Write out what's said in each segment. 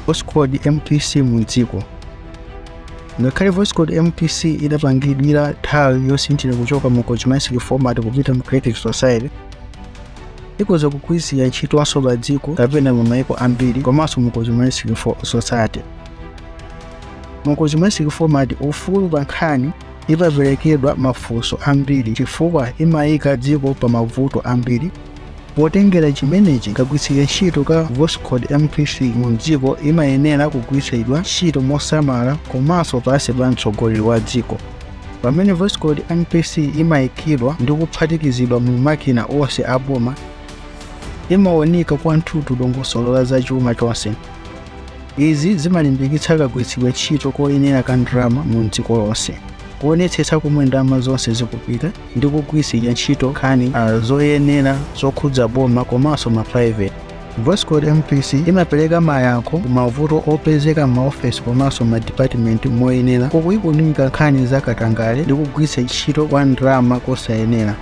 voskhod mpc mu dziko ngakhale voskhod mpc idapangidwira nthawi yosinthira kuchoka mu consumeristic format kupita mu creative society ikoza kugwiritsidwa ntchitonso pa dziko kapena mu maiko ambiri komanso mu consumeristic fo- society mu consumeristic format ufulu pa nkhani imaperekedwa mafunso ambiri chifukwa imayika dziko pa mavuto ambiri Potengera chimenechi, kagwiritsidwe ntchito ka Voskhod MPC mu mdziko imayenera kugwiritsidwa ntchito mosamala komanso pansi pa mtsogoleri wa dziko. Pamene Voskhod MPC imaikidwa ndi kuphatikizidwa mu makina onse a boma, imawunika kwathunthu dongosolo la zachuma chonse. Izi zimalimbikitsa kagwiritsidwe ntchito koyenera ka ndalama mu mdziko lonse, kuonetsetsa komwe ndalama zonse zikupita, ndi kugwiritsa ntchito nkhani ah, zoyenera zokhudza boma komanso ma private Voskhod MPC imapereka mayankho ku mavuto opezeka m'maofesi komanso m'madipatimenti moyenera pokuikunika nkhani za katangale ndi kugwiritsa ntchito kwa ndalama kosayenera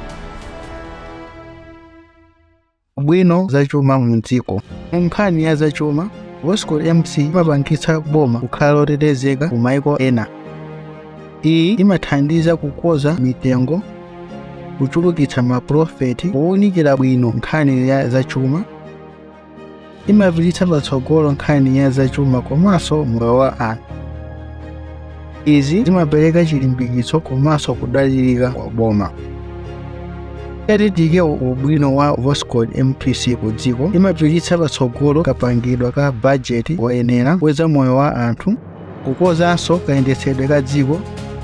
ubwino zachuma mu dziko mu nkhani ya zachuma Voskhod MC imapangitsa boma kukhala lotetezeka ku maiko ena iyi imathandiza kukonza mitengo kuchulukitsa maprofiti powunikira bwino nkhani ya zachuma imapititsa patsogolo nkhani ya zachuma komanso moyo wa anthu izi zimapereka chilimbikitso komanso kudalirika kwa boma yatitike ubwino wa voskhod mpc ku dziko imapititsa patsogolo kapangidwe ka bajeti woyenera kweza moyo wa anthu kukonzanso kayendetsedwe ka dziko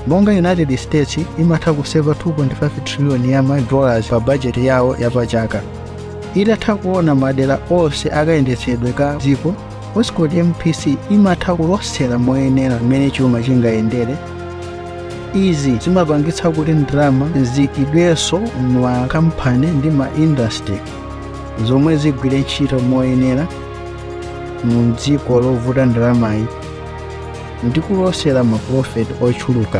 monga united states imatha kuseva 2.5 trillion ya ma dollars pa bajeti yawo ya pachaka itatha kuona madera onse akayendetsedwe ka dziko voskhod mpc imatha kulosera moyenera mmene chuma chingayendere izi zimapangitsa kuti ndalama ziikidwenso m'makampani ndi ma industry zomwe zigwire ntchito moyenera mu mdziko lovuta ndalamayi ndi kulosera mapulofiti ochuluka